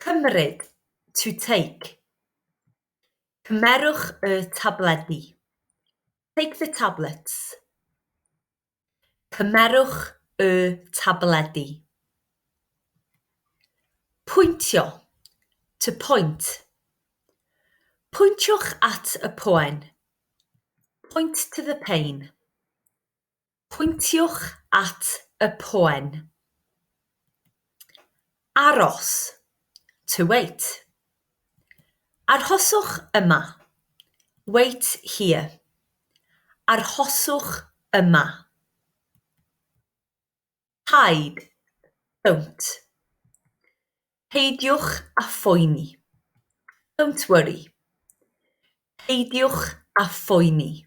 Cymryd, to take. Cymerwch y tabledi, take the tablets. Cymerwch y tabledi. Pwyntio, to point. Pwyntiwch at y poen, point to the pain. Pwyntiwch at y poen. Aros, to wait. Arhoswch yma, wait here. Arhoswch yma. Hide, don't. Peidiwch â phoeni. Don't worry. Peidiwch â phoeni.